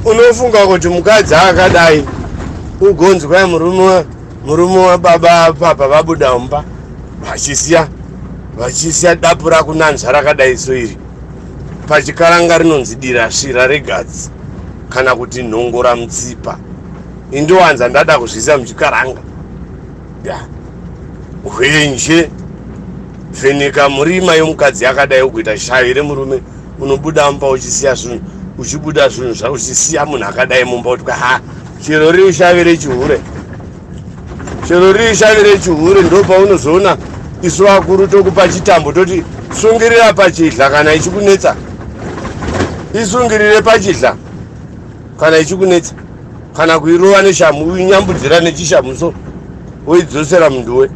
unofunga kuti mukadzi akadai ugonzwai murume murume wababa papa vabuda umba vachisiya vachisiya dapu rakunanzva rakadai so iri pachikaranga rinonzi dira svira regadzi kana kuti nhongora mutsipa indiwanza ndada kuzvisa muchikaranga ya hwenje vheneka murima yomukadzi yakadai ukuita shavi remurume unobuda mumba uchisiya zvinhu uchibuda zvinhu zva uchisiya munhu akadai mumba uti ha chero riri shavi rechihure chero riri shavi rechihure ndo paunozoona isu vakuru tokupa chitambo toti sungirira pachidla kana ichikunetsa isungirire pachidla kana ichikunetsa kana kuirova neshamu uinyambudzira nechishamu so woidzosera munduwe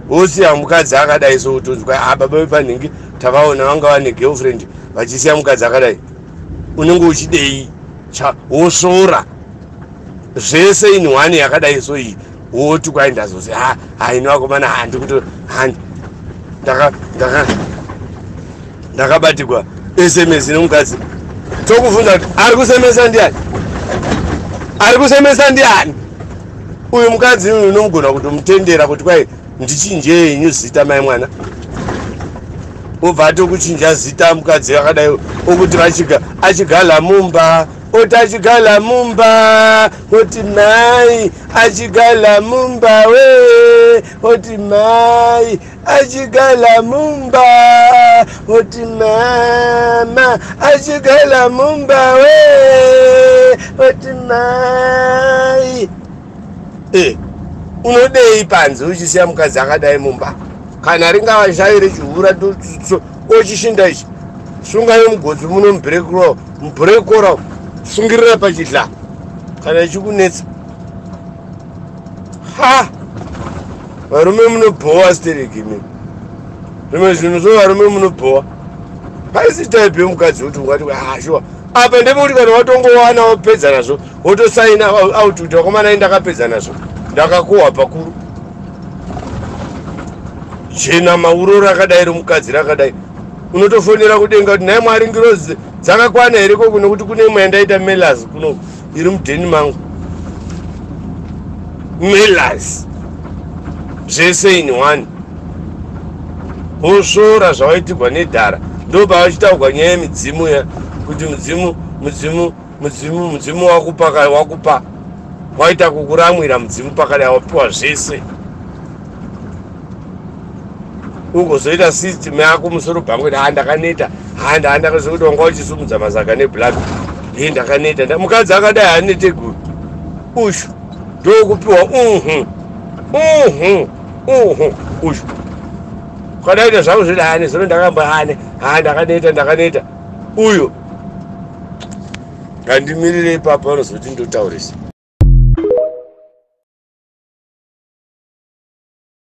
wosiya mukadzi akadai so utonzwa ababa ah, vepanhingi takaona vanga vane girlfriend vachisiya mukadzi akadai unenge uchidei cha wosvora zvese in one yakadai so iyi woti kwai ndazozi ha haino vakomana handi kuto handi ndaka ndaka ndakabatigwa sms nomukadzi tokuvhunza kuti ari kusemesa ndiani ari kusemesa ndiani uyu mukadzi uyu unomugona kutomutendera kuti kwai ndichinjei inyu zita mai mwana obva atokuchinja zita mukadzi akadai okuti vachika achigala mumba oti achigala mumba oti mai achigala mumba we oti mai achigala mumba oti mama achigala mumba we oti mai e unodei panze uchisiya mukadzi akadai mumba kana ringava zvayo rechihura ochishinda ichi sungayo mugodzi muno mubrekro mubrekora sungirira pachidla kana ichikunetsa ha varume munobhowa stereki mi zvimwe zvinhu zvo varume munobhowa paisi type yemukadzi kuti ungati ashuwa ah, apa ndepekuti kana watongowana wapedza nazvo wotosaina out kuti vakomana i ndakapedza nazvo ndakakohwa pakuru chena mauro rakadai romukadzi rakadai unotofonera kudenga kuti nhai mwari ngirozi dzakakwana here koko nekuti kune imwe yandaita melas kuno iri mudheni mangu melas zvese in one wosvora zvawaitigwa nedhara ndobva vachitaugwa nyaya yemidzimu ya kuti mudzimu mudzimu mudzimu mudzimu wakupa kare wakupa waita kukuramwira mudzimu pakare awapiwa zvese ugozoita system yako musoro bhangu kuti haa ndakaneta haa ndaa ndakaziva kuti wanga uchisumudza mazaga neblack e ndakaneta mukadzi akadai hanete guru ushu ndokupiwa uhu uhu uhu ushu ukadaita zvangu zviri hane zino ndakamba hane haa ndakaneta ndakaneta uyo ngandimirire ipapa anozoti ndotaurisa